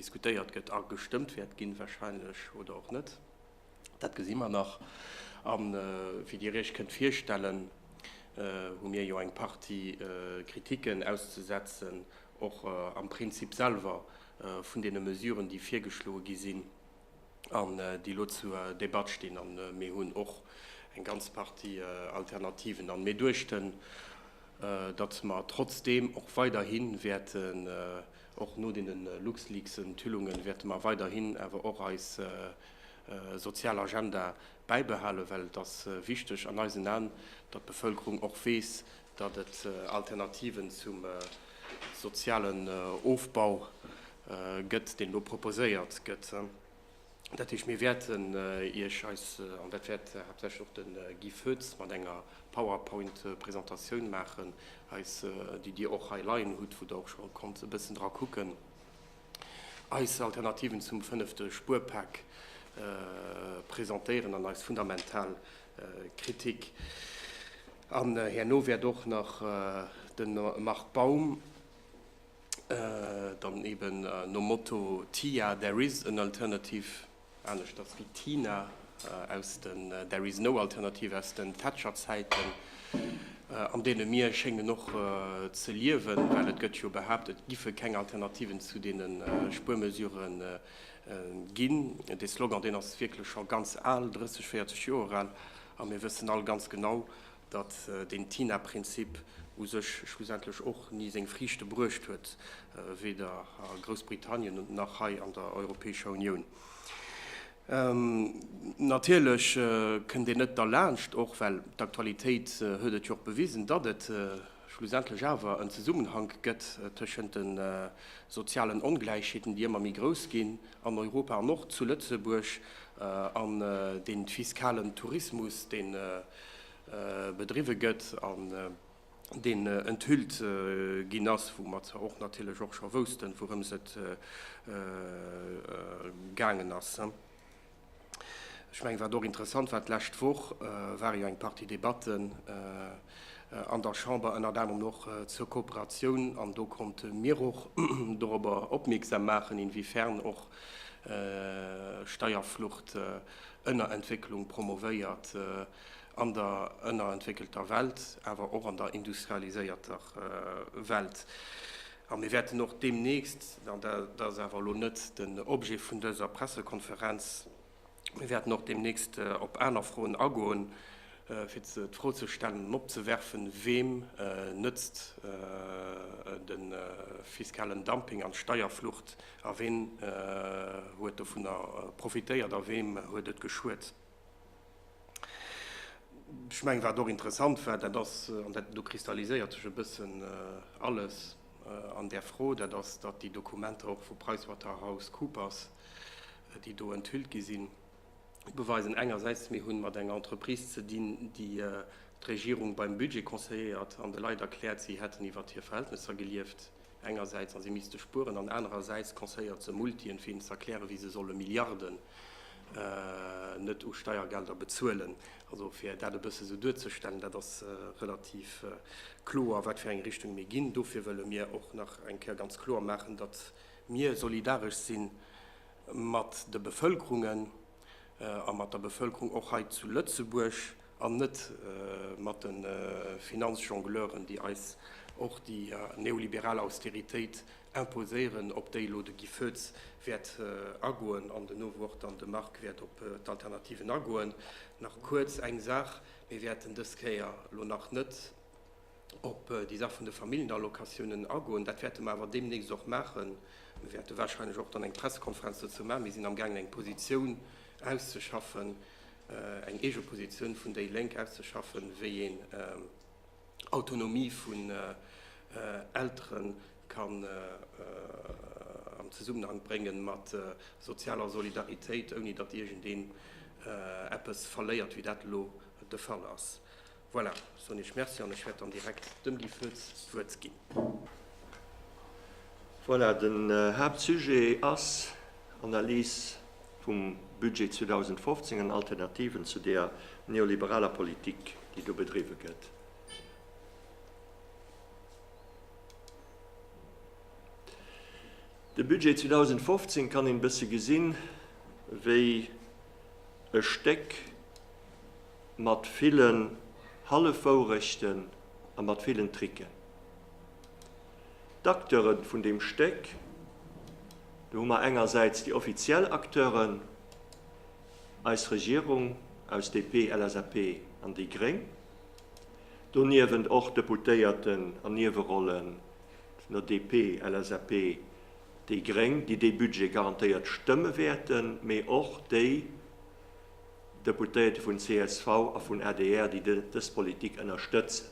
diskutéiert gëtt a gestëmmt wäert ginn, wahrscheinlech, oder och net, dat gesi mer nach. A wéi Dir Iech kënnt virstellen, hu mir jo eng Partie Kritiken auszesetzen, och am Prinzip selwer vun deene Mesuren, déi virgeschloe gi sinn. an déi elo zur Debatt stinn. A mir hunn och eng ganz Partie Alternativen a mir duechten, datt mer trotzdeem och weiderhi wäerten, och no deene LuxLeaks-Enthüllungen, wäerte mer weiderhi awer och eis sozial Agenda bäibehalen, well et ass wichteg an eisen Aen, datt d'Bevëlkerung och weess, datt et Alternativen zum sozialen Ofbau Gëtt, deen elo proposéiert gëtt. Dat heescht, mir wäerten Iech eis, an dat wäert haaptsächlech och de Guy Foetz mat enger Powerpoint-Presentatioun maachen, eis, déi Dir och hei leien hutt, wou Der och scho konnt e bëssen dra kucken, eis Alternativen zum fënnefte Spuerpak presentéieren an eis fundamental Kritik. An herno wäert och nach de Marc Baum. dann eben nom Motto Tia, there is an alternative, aneschters wéi Tina aus den There is no alternative aus den Thatcher-Zäiten, an deene mir schéngen och ze liewen, well et gëtt jo behaapt, et giffe keng Alternativen zu deene Spuermesure ginn. Dee Slogan, deen ass wierklech scho ganz al, 30, 40 Joer al, a mir wëssen all ganz genau, datt deen TINA-Prinzip u sech schlussendlech och ni seng Friichte bruecht huet, weder a Groussbritannien nach hei an der Europäescher Unioun. Natierlech kënnt een net derlaanscht, och well d'Aktualitéit huet et jo och bewisen, datt et schlussendlech awer en Zesummenhank gëtt tëschent de sozialen Ongläichheeten, déi ëmmer méi grouss ginn an Europa an och zu Lëtzebuerg, an deem fiskalen Tourismus, deen, bedriwwe gëtt an deen enthüllt ginn ass, wou mer zwar och natierlech och scho woussten, wourëms et gaangen ass. Ech mengen, wat och interessant war, d'lescht Woch ware jo eng Partie Debatten an der Chamber, ënnert anerem och zur Kooperatioun, an do konnte mir och dorobber opmierksam maachen, inwiefern och Steierflucht, Ënnerentwécklung promovéiert an der ënnerentwéckelter Welt, awer och an der industrialiséierter Welt. A mir wäerten och deemnächst, an dat ass awer elo net den Objet vun dëser Pressekonferenz, mir wäerten och deemnächst op aner Froen agoen, fir d'Fro ze stellen an opzewerfen, Weem nëtzt de fiskalen Dumping an d'Steierflucht? A ween huet dovunner profitéiert a weem huet et geschuet? Ech mengen, wat och interessant war, dat ass, an do kristalliséiert sech e bëssen alles an där Fro, dat ass, datt déi Dokumenter och vu PricewaterhouseCoopers, déi do enthüllt gi sinn, beweisen engersäits, mir hu mat enger Entreprise ze dinn, déi d'Regierung beim Budget conseilléiert an de Leit erkläert, si hätten iwwer hir Verhältnesser gelieft. engersäits a si misste spueren an anerersäits Conseiller ze Multien, fir hinnen z'erklären, wéi se solle Milliarden net u Steiergelder bezuelen. Also fir dat e bësse sou duerzestellen, dat ass relativ kloer, wat fir eng Richtung mir ginn. Dofir wëlle mir och nach eng Kéier ganz kloer maachen, datt mir solidaresch si mat de Bevëlkerungen, a mat der Bevëlkerung och hei zu Lëtzebuerg an net mat de Finanzjongleuren, déi eis och déi neoliberal Austeritéit imposéieren, op déi elo de Guy Foetz wäert agoen an den Owuer och dann de Marc wäert op d'Alternativen agoen. Nach kuerz eng Saach, Mir wäerten dës Kéier elo nach net, op déi Saach vun de Familjenallocatiounen agoen. Dat wäerte mer awer deemnächst och maachen. Mir wäerte wahrscheinlech och dann eng Pressekonferenz dozou maachen. Mir sinn amgaangen, eng Positioun auszeschaffen, eng eege Positioun vun déi Lénk auszeschaffen, wéi een Autonomie vun Eltere kann am Zesummenhang brénge mat sozialer Solidaritéit, ouni datt iergendeen eppes verléiert, wéi dat elo de Fall ass. Voilà, soen ech Merci an ech wäert dann direkt dem Guy Foetz d'Wuert ginn. Voilà, den Haaptsujet ass Analys vum Budget 2015 an Alternativen zu där neoliberaler Politik, déi do bedriwwe gëtt. De Budget 2015 kann een e bësse gesinn, wéi e Stéck, Mat villen Hallefwourechten a mat villen Tricken. D'Acteure vun deem Stéck, do hu mer engersäits déi offiziell Acteuren, eis Regierung aus DP, LSAP an déi gréng, doniewent och Deputéierten an Niewerollen vun der DP, LSAP, déi gréng, déi dee Budget garantéiert stëmme wäerten, mee och déi, Deputéierte vun csv a vun adr, déi dës Politik ënnerstëtzen.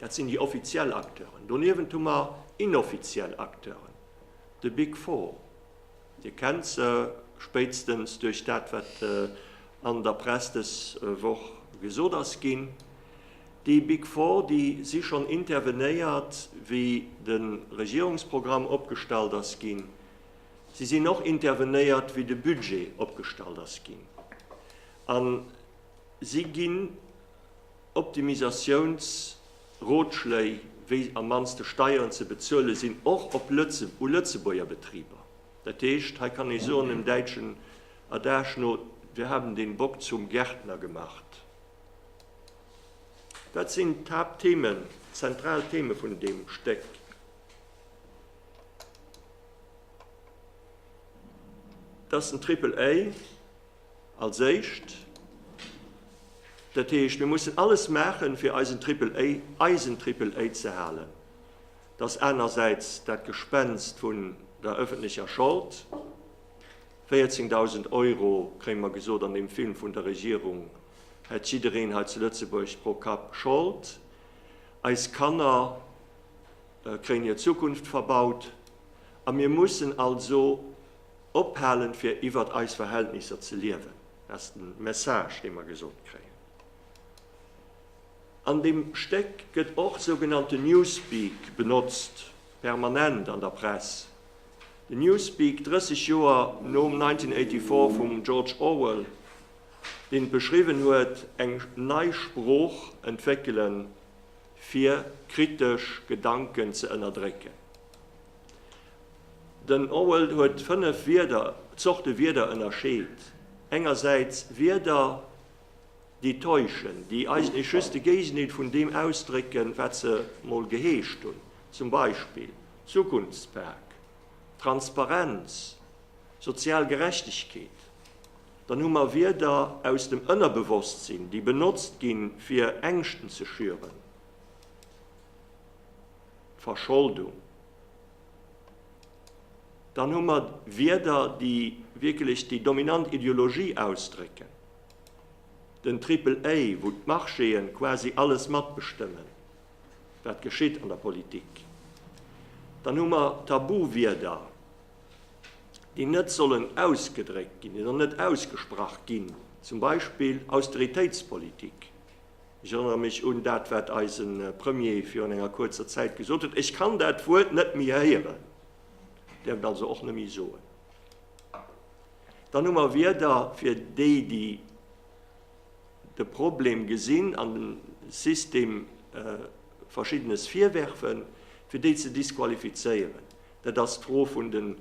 Dat sinn déi offiziell Acteuren. Doniewent hu mer inoffiziell Acteuren, de Big Four. Dir kennt se, spéitstens duerch dat, wat an der Press dës Woch gesot ass ginn. Déi Big Four, déi si schonn intervenéiert, wéi de Regierungsprogramm opgestallt ass ginn. Si sinn och intervenéiert, wéi de Budget opgestallt ass ginn. A si ginn Optimisatiounsrotschléi, wéi am mannste Steieren ze bezuele sinn, och op u Lëtzebuerger Betriber. Dat heescht, hei kann ee soen, dem däitschen Adage no, Wir haben den Bock zum Gärtner gemacht. Dat sinn d'Haaptthemen, d'zentral Theme vun deem Stéck. Dat ass den Triple-A als éischt. Dat heescht, mir mussen alles maachen, fir eisen Triple-A, eisen Triple-A ze halen. Dat ass anersäits dat Gespenst vun der öffentlecher Schold. 14.000 Euro, kréie mer gesot an deem Film vun der Regierung, hätt jiddereen hei zu Lëtzebuerg pro Kapp Schold. Eis Kanner kréien hir Zukunft verbaut, a mir mussen also ophalen, fir iwwert eis Verhältnisser ze liewen. Dat ass de Message, dee mer gesot kréien. An deem Stéck gëtt och sougenannten Newspeak benotzt, permanent an der Press. Den Newspeak, 30 Joer nom 1984 vum George Orwell, deen et beschriwwen huet, eng nei Sprooch entwéckelen, fir kritesch Gedanken ze ënnerdrécken. Den Orwell huet fënnef Wierder, Zorte Wierder ënnerscheet, engersäits Wierder, déi täuschen, déi eis nees just de Géisenhitt vun deem ausdrécken, wat se mol geheescht hunn, zum Beispill Zukunftspak, Transparenz, sozial Gerechtegkeet. Dann hu mer Wierder aus dem Ënnerbewosstsinn, déi benotzt ginn, fir Ängschten ze schüren, Verscholdung. Dann hu mer Wierder, déi wierklech déi dominant Ideologie ausdrécken, den Triple-A, wou d'Marchéen quasi alles matbestëmmen, wat geschitt an der Politik. Dann hu mer Tabu-Wierder. déi net sollen ausgedréckt ginn, déi sollen net ausgesprach ginn, zum Beispill Austeritéitspolitik. Ech erënnere mech un dat, wat eise Premier virun enger kuerzer Zäit gesot huet, Ech kann dat Wuert net méi héieren, däerf et also och net méi soen. Dann hu mer Wierder fir déi, déi de Problem gesinn an dem System Verschiddenes virwerfen, fir déi ze disqualifizéieren. Dat ass d'Fro vun den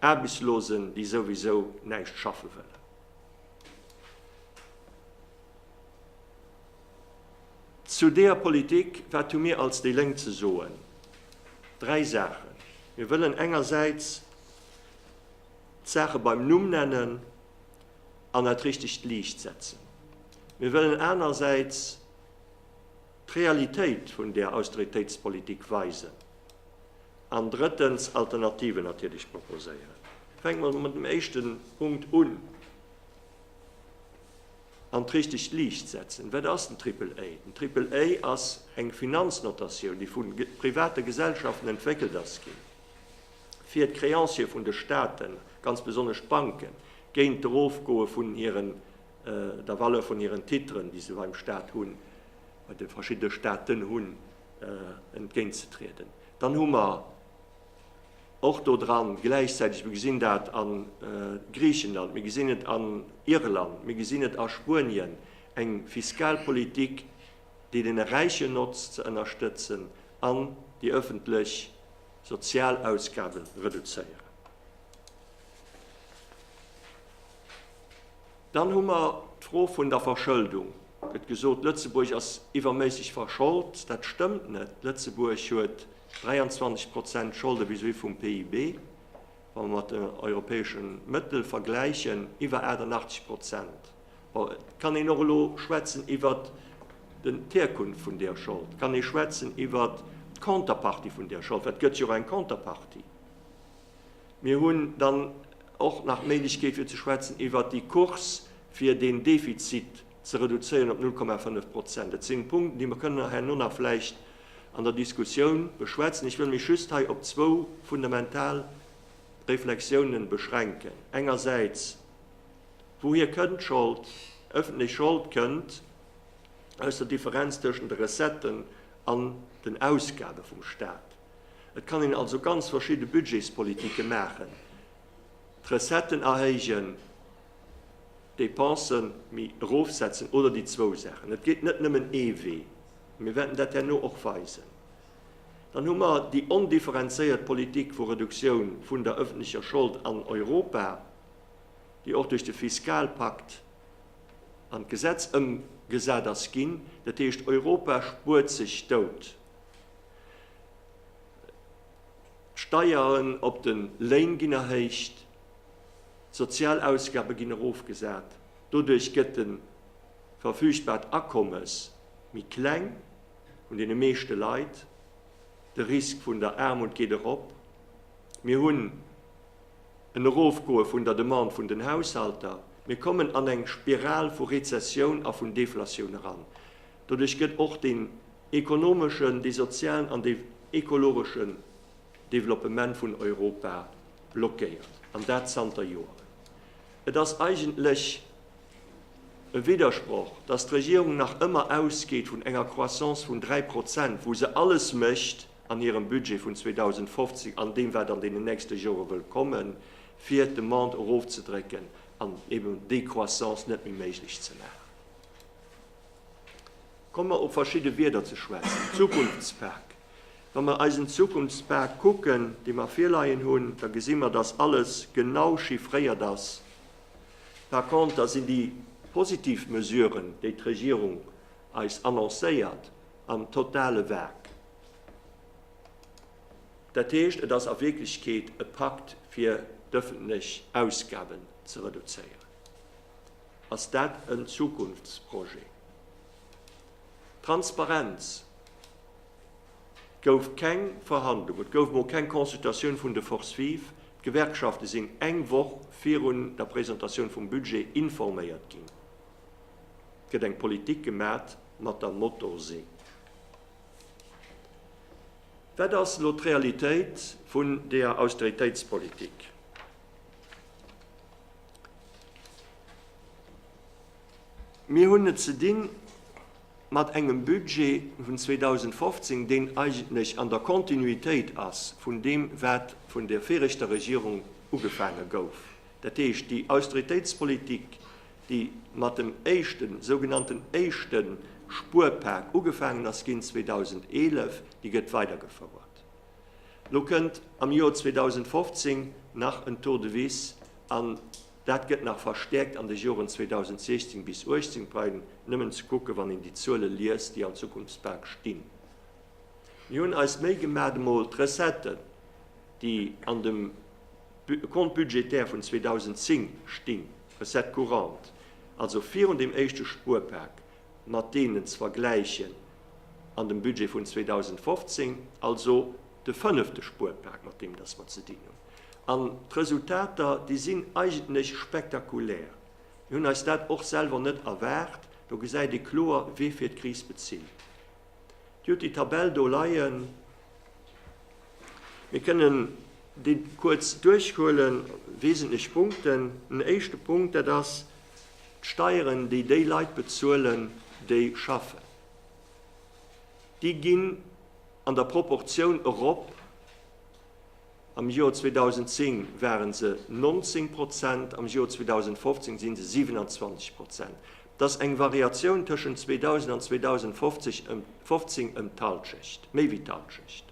Aarbechtslosen, déi souwisou näischt schaffe wëllen. Zu deeër Politik, wat hu mir als déi Lénk ze soen? Dräi Saachen. Mir wëllen engersäits d'Saache beim Numm nennen an at richtegt Liicht setzen. Mir wëllen anersäits, D'Realitéit vun där Austeritéitspolitik weisen. An drëttens, Alternativen natierlech proposéieren. Fänke mer mat dem éischten Punkt un, an d'richtegt Liicht setzen. Wat ass den Triple A? Den Triple A ass eng Finanznotatioun, déi vu private Gesellschaften entwéckelt ass ginn, fir d'Créancië vun de Staaten, ganz besonnesch d'Banken, géint d'Erofgoe vun hiren der Valeur vun hiren Titren, déi se beim Staat hunn, bei de verschiddene Staaten hunn, entgéintzetrieden. Dann hu mer och do dran gläichzäiteg, mir gesinn dat a Griichenland, mir gesinn et an Irland, mir gesinn et a Spuenien, eng Fiskalpolitik, déi deene Räichen notzt, ze ënnerstëtzen an déi öffentlech Sozialausgabe reduzéieren. Dann hu mer d'Fro vun der Verschëldung. Et gëtt gesot, Lëtzebuerg ass iwwerméisseg verscholt. Dat stëmmt net. Lëtzebuerg huet 23 Prozent Scholde vis-à-vis vum PIB, wa mer mat den europäesche Mëttel vergläichen, iwwer 88 Prozent. Bon, et kann een och elo schwätzen iwwert d'Herkunft vun där Schold, et kann ee schwätzen iwwert d'Contrepartie vun där Schold, well et gëtt jo och eng Contrepartie. Mir hunn dann och nach d'Méiglechkeet fir ze schwätzen iwwert déi Course fir den Defizit ze reduzéieren op 0,5 Prozent. Dat sinn Punkten, déi mer kënnen herno nach vläicht an der Diskussioun beschwätzen. Ech wëll mech just hei op zwou fundamental Reflexiounen beschränken. Engersäits, Wouhier kënnt d'Schold? Ëffentlech Schold kënnt aus der Differenz tëschent de Recetten an den Ausgabe vum Stat. Et kann een also ganz verschidde Budgetspolitike maachen, d'Recetten erhéijen, d'Dépensen méi erofsetzen oder déi zwou Saachen. Et gétt net nëmmen ee Wee. Mir wäerten dat herno och weisen. Dann hu mer déi ondifferenzéiert Politik vu Reduktioun vun der öffentlecher Schold an Europa, déi och duerch de Fiskalpakt an d'Gesetz ëmgesat ass ginn. Dat heescht, Europa spuert sech dout. D'Steieren op de Léin ginn erhéicht, d'sozial Ausgabe ginn erofgesat. Doduerch gëtt de verfügbart Akommes méi kleng vun deene meeschte Leit. De Risk vun der Aarmut geet erop. Mir hunn en Erofgoe vun der Demande vun den Haushalter. Mir kommen an eng Spiral vu Rezessioun a vun Deflatioun eran. Doduerch gëtt och dee ekonomeschen, dee sozialen an dee ekologeschen Développement vun Europa blockéiert, an dat zanter Joeren. Et ass eigentlech e Widdersproch, dass d'Regierung nach ëmmer ausgeet vun enger Croissance vun 3 Prozent, wou se alles mécht an hirem Budget vun 2015 an deem, wat an deenen nächste Jore wëll kommen, fir d'Demande erofzedrécken an eben déi Croissance net méi méiglech ze maachen. Komme mer op verschidde Wierder ze schwätzen, Zukunftspak. Wa mer eisen Zukunftspak kucken, dee mer virleien hunn, da gesi mer, dass alles genau chiffréiert ass. Par conter sinn déi positiv Mesuren, déi d'Regierung eis annoncéiert, am totale Vag. Dat heescht, et ass a Wierklechkeet e Pakt, fir d'öffentlech Ausgaben ze reduzéieren. Ass dat en Zukunftsprojet? Transparenz, Et gouf keng Verhandlung, et gouf emol keng Consultatioun vun de Forces vives. D'Gewerkschafte sinn eng Woch virun der Presentatioun vum Budget informéiert ginn. Et gëtt eng Politik gemat mat der Motorsee. Wat ass elo d'Realitéit vun deeër Austeritéitspolitik? Mir hunn et ze di mat engem Budget vun 2015, deen eigentlech an der Kontinuitéit ass vun deem, wat vun der viregter Regierung ugefaange gouf, dat heescht déi Austeritéitspolitik, déi mat dem éischten, sougenannten éischte Spuerpak ugefaangen ass ginn 2011, déi gëtt weidergefouert. Lo kënnt am Joer 2015 nach en Tour de Vis an dat gëtt nach verstäerkt an de Joren 2016 bis 18, bleiwen nëmmen ze kucken, wann een déi Zuele liest, déi an Zukunftsbank stinn. Mir hunn eis d'Méi gemaat emol d'Recetten, déi an dem Compte budgétaire vun 2010 stinn, Recettes courantes, also virun deem éischte Spuerpak, mat deenen ze vergläichen an dem Budget vun 2015, also de fënnefte Spuerpak, mat deem dass mer ze dinn hunn. An d'Resultater, déi sinn eigentlech spektakulär. Mir hunn eis dat och selwer net erwaart. Do gesäit ee kloer, wee fir d'Kris bezilt. Dir hutt déi Tabell do leien. Mir kënnen déi kuerz duerchhuelen, wesentlech Punkten. En éischte Punkt, dat ass, D'Steieren, déi déi Leit bezuelen, déi schaffen, déi ginn an der Proportioun erop, am Joer 2010 ware se 19 Prozent, am Joer 2015 si se 27 Prozent. Et ass eng Variatioun tëschent 2000 an 2015 ëm d'Hallschecht, méi wéi d'Hallschecht.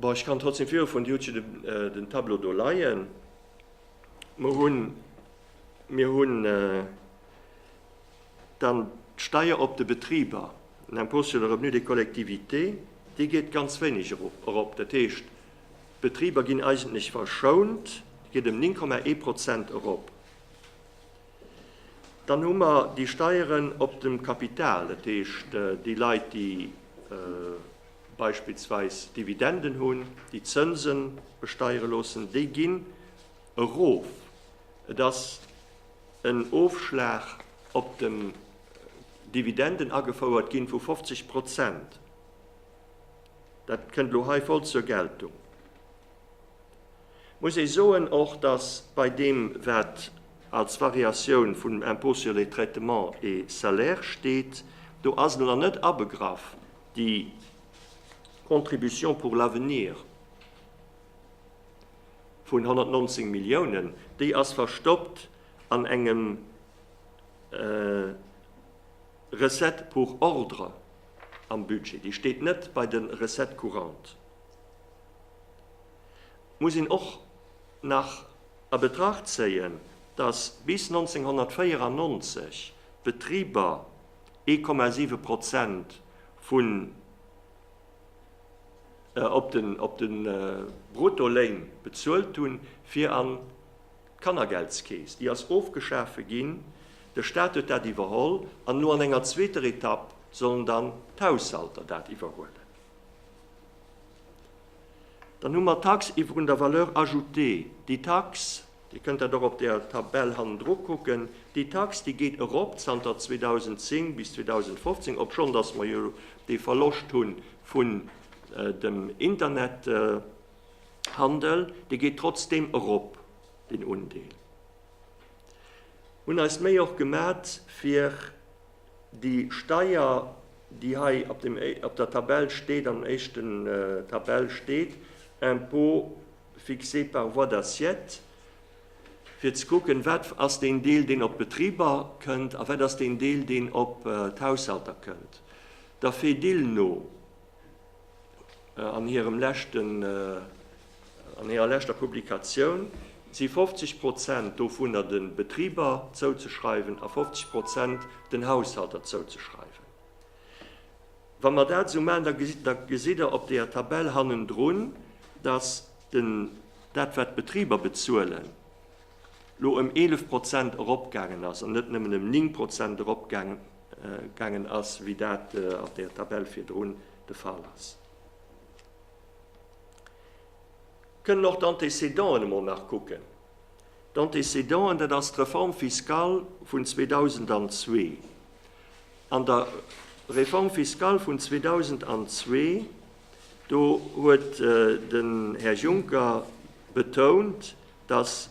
Bon, ech kann trotzdem virufuen, Dir hutt jo den Tableau do leien. Mer hunn, mir hunn dann d'Steier op de Betriber, l'impôt sur le revenu des collectivités, déi geet ganz wéineg erop. Dat heescht, d'Betriber ginn eigentlech verschount, geet ëm 9,1 Prozent erop. Dann hu mer déi Steieren op dem Kapital, dat heescht déi Leit, déi beispillsweis Dividenden hunn, déi Zënse besteiere loossen, déi ginn erof. Et ass en Ofschlag op den Dividenden agefouert ginn vu 50 Prozent. Dat kënnt elo hei voll zur Geltung. Muss ee soen och, dass bei deem, wat als Variatioun vum Impôt sur les traitements et salaires steet, do ass elo nach net abegraff déi Contribution pour l'avenir vun 119 Milliounen. Déi ass verstoppt an engem Recette pour ordre am Budget. Déi steet net bei de Recettes courantes. muss een och nach a Betracht zéien, dass bis 1994 d'Betriber 1,7 Prozent vun op de Bruttoléin bezuelt hunn, fir an d'Kannergeldskeess. Déi ass ofgeschafe ginn, de Staat huet dat iwwerholl an elo an enger zweeter Etapp sollen dann d'Haushalter dat iwwerhuelen. Dann hu mer d'Tax iwwerun der Valeur ajoutée. Déi Tax, Dir kënnt dat och op der Tabell hannendru kucken, déi Tax, déi geet erop zanter 2010 bis 2015, obschonn dass mer jo dee Verloscht hu vun dem Internethandel, dee geet trotzdeem erop, deen Undeel. Hunn eis Méi och gemat, fir. Déi Steier, déi hei op der Tabell steet, am éischten Tabell steet, Impôt fixé par voie d'assiette, fir ze kucken, wat ass deen Deel, deen op d'Betriber kënnt, a wat ass deen Deel, deen op d'Haushalter kënnt, der Fedil no. An hirem leschten, an hirer leschter Publikatioun si 50 Prozent dovunner de Betriber zouzeschreiwen a 50 Prozent den Haushalter zouzeschreiwen. Wa mer dat esou maachen, da gesitt Der op deeër Tabell hannendrun, dass den, dat wat d'Betriber bezuelen, lo ëm 11 Prozent eropgaangen ass an net nëmmen ëm 9 Prozent eropgaangen gaangen ass, wéi dat an der Tabell virdrun de Fall ass. Kënnen och d'Antécédenten emol nach kucken. D'Antécédenten, dat ass d'Reforme fiscale vun 2002. An der Réforme fiscale vun 2002, do huet den Här Juncker betount, dass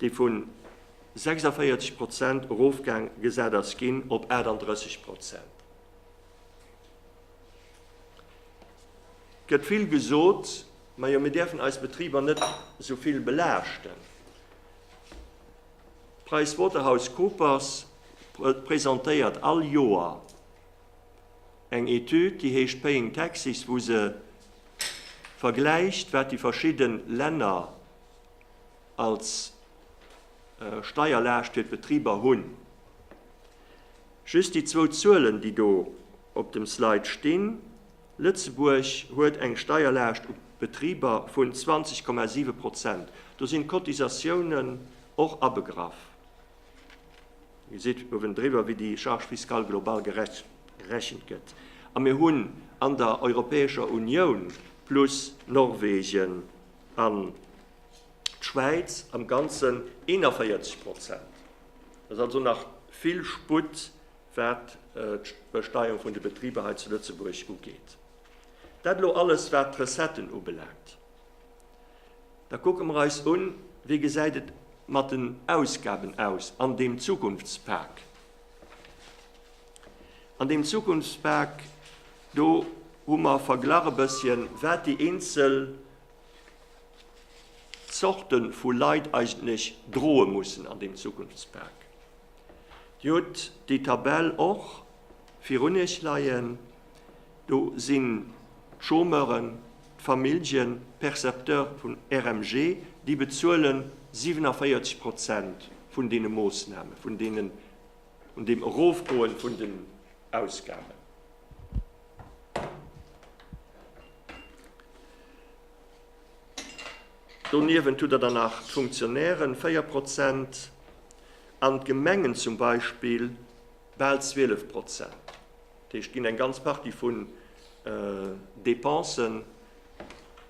déi vu 46 Prozent erofgaang gesat ass ginn op 38 Prozent, gëtt vill gesot, majo mir däerfen eis Betriber net esou vill belaaschten. PricewaterhouseCoopers presentéiert all Joer eng Etüd, déi heescht Paying Taxes, wou se vergläicht, wat déi verschidde Länner, als Steierlaascht fir d'Betriber hunn. Just déi zwou Zuelen, déi do op dem Slide stinn, Lëtzebuerg huet eng Steierlaascht u Betriber vun 20,7 Prozent, do sinn d'Cotisatiounen och abegraff. Dir gesitt uewen driwwer, wéi déi Charge fiscale globale gerechent gëtt. A mir hunn an der Europäescher Unioun, plus Norwegen, an d'Schwäiz am Ganzen 41 Prozent. Et ass also nach vill Sputt, wat d'Besteierung vun de Betriber hei zu Lëtzebuerg ugeet. Dat elo alles, wat d'Recetten ubelaangt. Da kucke mer eis un, Wéi gesäit et mat den Ausgaben aus an deem Zukunftspak? An deem Zukunftspak Do hu mer verglach e bësschen, wat déi eenzel Zorte vu Leit eigentlech droe mussen an deem Zukunftspak. Dir hutt déi Tabell och virun Iech leien. Do sinn d'Chômeuren, d'Familljen, d'Percepteurs vun RMG, déi bezuelen 47 Prozent vun deene Moossnamen, vun deene Un dem Erofgoen vun den Ausgaben. Doniewent hutt Der dann nach d'Funktionären, 4 Prozent, an d'Gemengen zum Beispill bal 12 Prozent. Dat heescht, et ginn eng ganz Partie vun Dépensen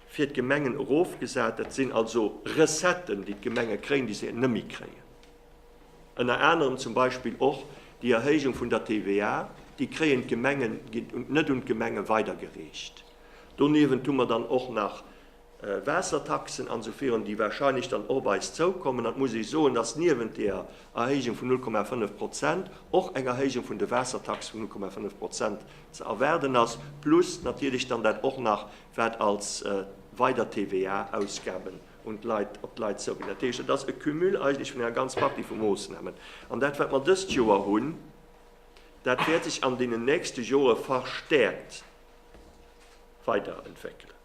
fir d'Gemengen erofgesat. Dat sinn also Recetten, déi d'Gemenge kréien, déi se net méi kréien. Ënner anerem zum Beispill och déi Erhéijung vun der TVA, déi kréien d'Gemengen, gi net un d'Gemenge weidergereecht. Doniewent hu mer dann och nach Waassertaxen an esou virun, déi wahrscheinlech dann och op eis zoukommen. An et muss ee soen, dass niewent deeër Erhéijung vun 0,5 Prozent och eng Erhéijung vun de Waassertaxe vun 0,5 Prozent ze erwaarden ass, plus natierlech dann dat och nach, wat als weider TVA-Ausgaben un d'Leit, op d'Leit zouginn. Dat heescht, et ass e Cumul eigentlech vun enger ganz Partie vu Moossnamen. An dat, wat mer dëst Joer hunn, dat wäert sech an deenen nächste Jore verstäerkt weiderentwéckelen.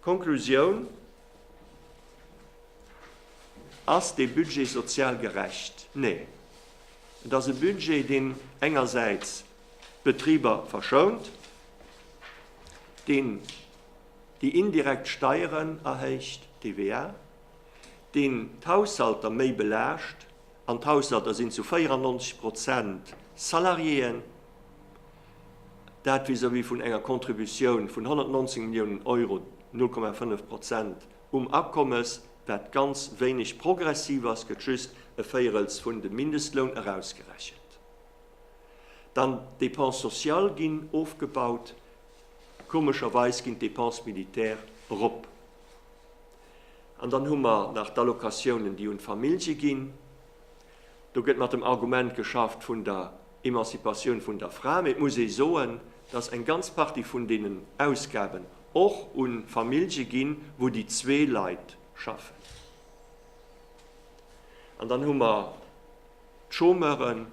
D'Konklusioun, Ass dee Budget sozial gerecht? Nee. Et ass e Budget, deen engersäits d'Betriber verschount, deen, Déi indirekt Steieren erhéicht, d'TVA, déi d'Haushalter méi belaascht, an d'Haushalter sinn zu 94 Prozent Salariéeën, dat vis-à-vis vun enger Contributioun vun 119 Milliounen Euro, 0,5 Prozent, um Akommes, wat ganz wéineg progressiv ass, gëtt just e Véierels vun de Mindestloun erausgerechent. Dann d'Dépenses sociales ginn ofgebaut. Komescherweis ginn d'Dépenses militaires erop. An dann hu mer nach d'Allocatiounen, déi un d'Famillje ginn. Do gëtt mat dem Argument geschafft vun der Emancipatioun vun der Fra. Mee et muss ee soen, dass eng ganz Partie vun deenen Ausgaben och un Famillje ginn, wou déi zwee Leit schaffen. An dann hu mer d'Chômeuren.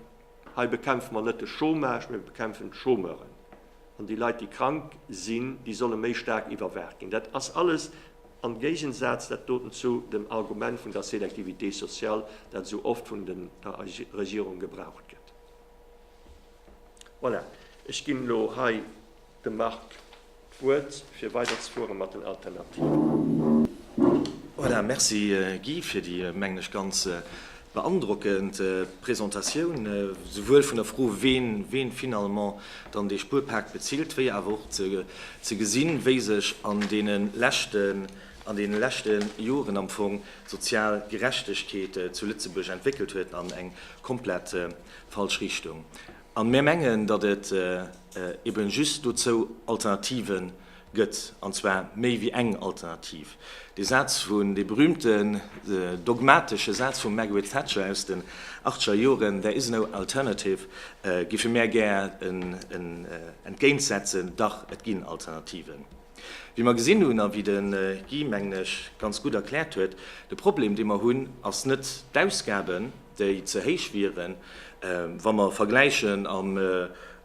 Hei bekämpfe mer net de Chômage, mee mer bekämpfen d'Chômeuren. An déi Leit, déi krank sinn, déi solle méi staark iwwerwaacht ginn. Dat ass alles am Géigensaz, dat doten, zu dem Argument vun der Sélectivité sociale, dat esou oft vun der Regierung gebraucht gëtt. Voilà, ech ginn elo hei dem Marc d'Wuert, fir weiderzefuere mat den Alternativen. Voilà, merci Guy, fir déi, mengen ech, ganz, Beandrockend Presentatioun, souwuel vun der Fro ween finalement dann dee Spuerpak bezilt, wéi awer och ze gesinn, wéi sech an deenen leschten Joren am Fong d'sozial Gerechtegkeet zu Lëtzebuerg entwéckelt huet an eng komplett falsch Richtung. An mär mengen, datt et eben just dozou Alternativen Gëtt, an zwar méi wéi eng Alternativ. Dee Saz vun, dee berühmte dogmatesche Saz vum Margaret Thatcher aus den achtscher Joren, There is no alternative, géife mär gär entgéint setzen, Dach, et ginn Alternativen. Wéi mer gesinn hunn, a wéi de Guy, mengen ech, ganz gutt erkläert huet, de Problem, dee mer hunn, ass net d'Ausgaben, déi ze héich wieren, wa mer vergläichen am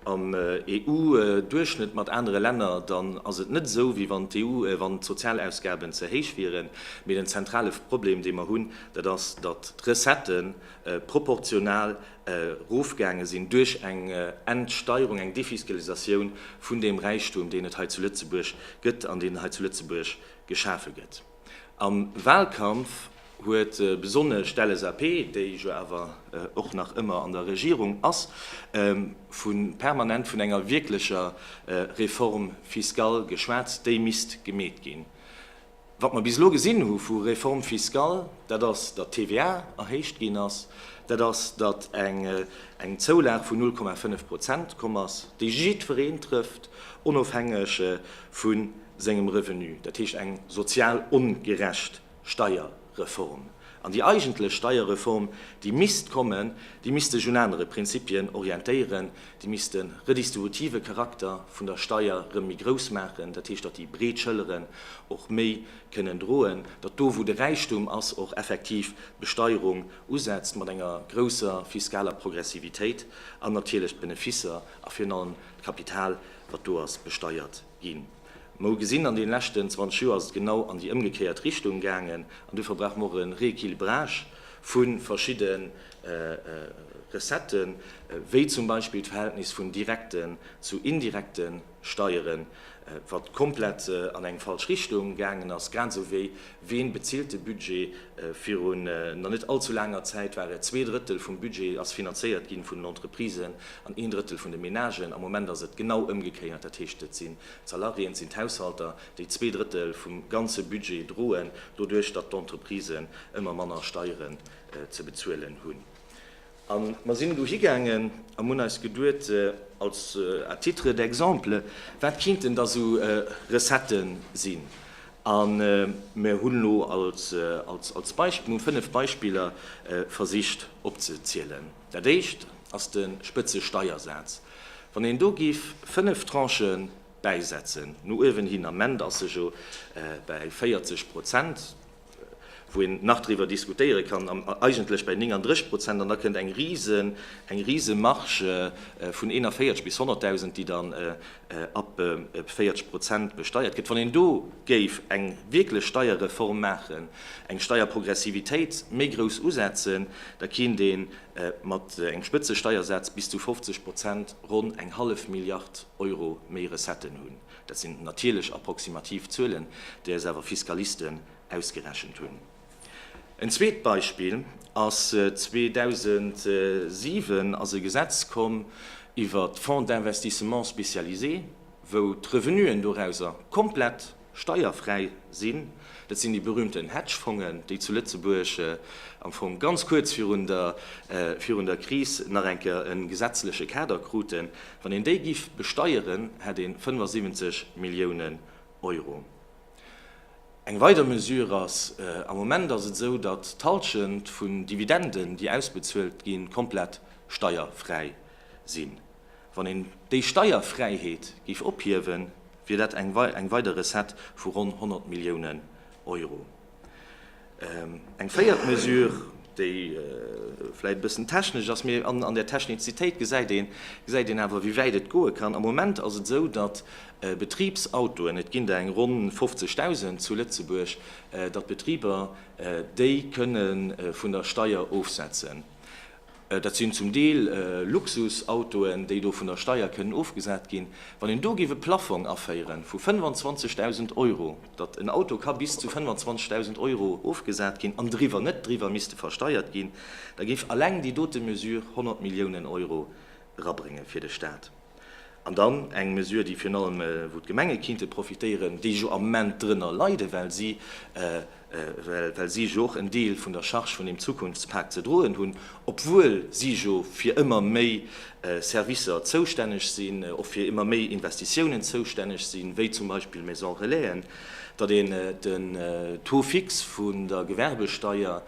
EU-Duerchschnëtt mat anere Länner, dann ass et net esou, wéi wann d'EU, wann d'Sozialausgaben ze héich wieren, mee den zentrale Problem, dee mer hunn, dat ass, datt d'Recettë proportional erofgaange sinn duerch eng Entsteierung, eng Defiskalisatioun vun deem Räichtum, deen et hei zu Lëtzebuerg gëtt an deen hei zu Lëtzebuerg geschafe gëtt. Am Wahlkampf huet besonnesch d'LSAP, déi jo awer och nach ëmmer an der Regierung ass, vu permanent vun enger wierklecher Réforme fiscale geschwat, déi misst gemeet ginn. Wat mer bis elo gesinn hu vu Réforme fiscale, dat ass, datt d'TVA erhéicht ginn ass, dat ass, datt eng Zoulag vun 0,5 Prozent komm ass, déi jiddwereen trëfft, onofhängeg vu sengem Revenu, dat heescht eng sozial ongerecht Steierreform. An déi eigentlech Steierreform, déi misst kommen, déi misst sech un anere Prinzipien orientéieren, déi misst de redistributive Charakter vun der Steier erëm méi grouss maachen, dat heescht, datt déi breet Schëlleren och méi kënnen droen, datt do wou de Räichtum ass och effektiv d'Besteierung usetzt mat enger grousser fiskaler Progressivitéit an natierlech d'Beneficer a virun allem d'Kapital, wat do ass, besteiert. ginn. Mer hu gesinn, an deene leschten 20 Joer ass et genau an déi ëmgekéiert Richtung gaangen. An dofir brauche mer och e Rééquilibrage vu verschidde Recetten, wéi zum Beispill d'Verhältnis vun direkten zu indirekte Steieren, wat komplett an eng falsch Richtung gaangen ass, grad esou wéi Ween bezilt de Budget? Virun na net allzu laanger Zäit war et, zwee Drëttel vum Budget ass finanzéiert ginn vun den Entreprisen an een Drëttel vun de Ménagen. Am Moment ass et genau ëmgekéiert, dat heescht et sinn d'Salariéen, et sinn d'Haushalter, déi zwee Drëttel vum ganze Budget droen, doduerch datt d'Entreprisen ëmmer manner Steieren ze bezuelen hunn. A mer sinn do higaangen a mer hunn eis geduet, als à titre d'exemple, wat kinnten da sou Recettë sinn? A mer hunn elo als Beispill, mir hu fënnef Beispiller versicht opzezielen. Dat éischt ass de Spëtzesteiersaz. Wann een do géif fënnef Tranchë bäisetzen, no uewen hin, am Ment ass e jo bäi 40 Prozent, wou een nach driwwer diskutéiere kann, eigentlech bäi 39 Prozent, an da kënnt eng risen, eng risen Marge vun 41 bis 100.000, déi dann ab 40 Prozent besteiert gëtt. Wann een do géif eng wierklech Steierreform maachen, eng Steierprogressivitéit méi grouss usetzen, da keent ee mat engem Spëtzesteiersaz bis zu 50 Prozent ronn eng hallef Milliard Euro méi Recetten hunn. Dat sinn natierlech approximativ Zuelen, déi eis awer Fiskalisten ausgerechent hunn. En zweet Beispill ass, 2007 ass e Gesetz komm iwwert d'Fonds d'investissements spécialisés, wou d'Revenuen dorauser komplett steierfräi sinn. Dat sinn déi berühmten Hedgefongen, déi zu Lëtzebuerg am Fong ganz kuerz virun der Kris nach eng Kéier e gesetzleche Kader kruten. Wann een déi giff besteieren, hätt een 75 Milliounen Euro. Eng weider Mesure ass, am Moment ass et esou, datt d'Halschent vun Dividenden, déi ausbezuelt ginn, komplett steierfräi sinn. Wann een déi Steierfräiheet giff ophiewen, wier dat eng weider Recette vu ronn 100 Milliounen Euro. Eng véiert Mesure, déi vläicht e bëssen technesch ass, mee an där Technizitéit gesäit een, gesäit een awer, wéi wäit et goe kann. Am Moment ass et esou, datt Betribsautoen, et ginn der eng ronn 50.000 zu Lëtzebuerg, datt d'Betriber déi kënne vun der Steier ofsetzen. Dat sinn zum Deel Luxusautoen, déi do vun der Steier kënnen ofgesat ginn. Wann een do géif e Plaffong aféiere vu 25.000 Euro, datt en Auto ka bis zu 25.000 Euro ofgesat ginn an driwwer net driwwer misste versteiert ginn, da géif alleng déi dote Mesure 100 Milliounen Euro erabrénge fir de Staat. An dann eng Mesure, déi virun allem, wou d'Gemenge kinnte profitéieren, déi jo am Moment drënner leiden, well si, well si jo och en Deel vun der Charge vun deem Zukunftspak ze droen hunn, obwuel si jo fir ëmmer méi Servicer zoustänneg sinn, och fir ëmmer méi Investitiounen zoustänneg sinn, wéi zum Beispill Maisons relaisen, datt een den Taux fixe vun der Gewerbesteier,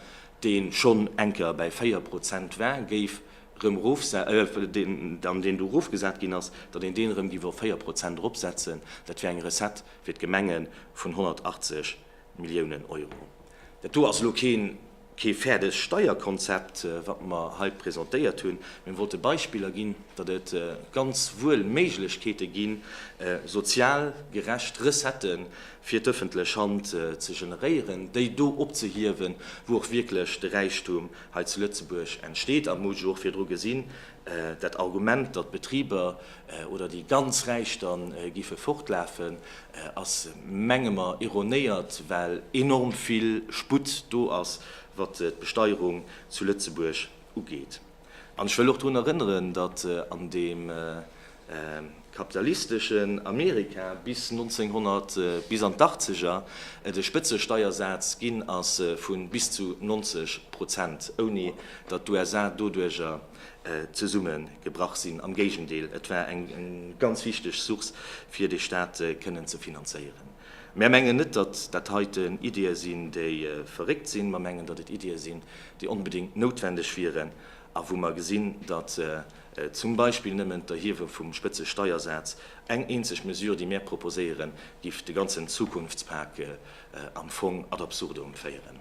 dee schonn enker bäi 4 Prozent war, géif rëm erofse-, deen, an deen do erofgesat ginn ass, datt een deen erëm géif op 4 Prozent eropsetzen, dat wär eng Recette fir d'Gemenge vun 180 Milliounen Euro. Dat do ass elo keen, kee fäerdegt Steierkonzept, wat mer hei presentéiert hunn, mä mir wollte Beispiller ginn, datt et ganz wuel Méiglechkeete gi sozial gerecht Recettë fir d'ëffentlech Hand ze generéieren, déi do opzehiewen, wou och wierklech de Räichtum Hei zu Lëtzebuerg entsteet, a muss jo och virdru gesinn, dat Argument, datt d'Betriber oder déi ganz Räich da géife fortlafen, ass, menge mer, ironéiert, well enorm vill Sputt do ass, wat d'Besteierung zu Lëtzebuerg ugeet. An ech wëll och drun erënneren, datt an deem kapitalisteschen Amerika bis 1900, bis an d'Achtzeger, de Spëtzesteiersaz ginn ass vu bis zu 90 Prozent, ouni datt d'USA doduerger zesummegebrach sinn. Am Géigendeel, et war eng ganz wichteg Source, fir de Staat kënnen ze finanzéieren. Mär mengen net, datt dat heiten Iddië sinn, déi verréckt sinn. Mer mengen, datt et Iddië sinn, déi onbedéngt noutwendeg wieren a wou mer gesinn, datt Zum Beispill nëmmen d'Erhiewe vum Spëtzesteiersaz, eng eenzeg Mesure, déi mär proposéieren, giff de ganzen Zukunftspak am Fong ad absurdum féieren.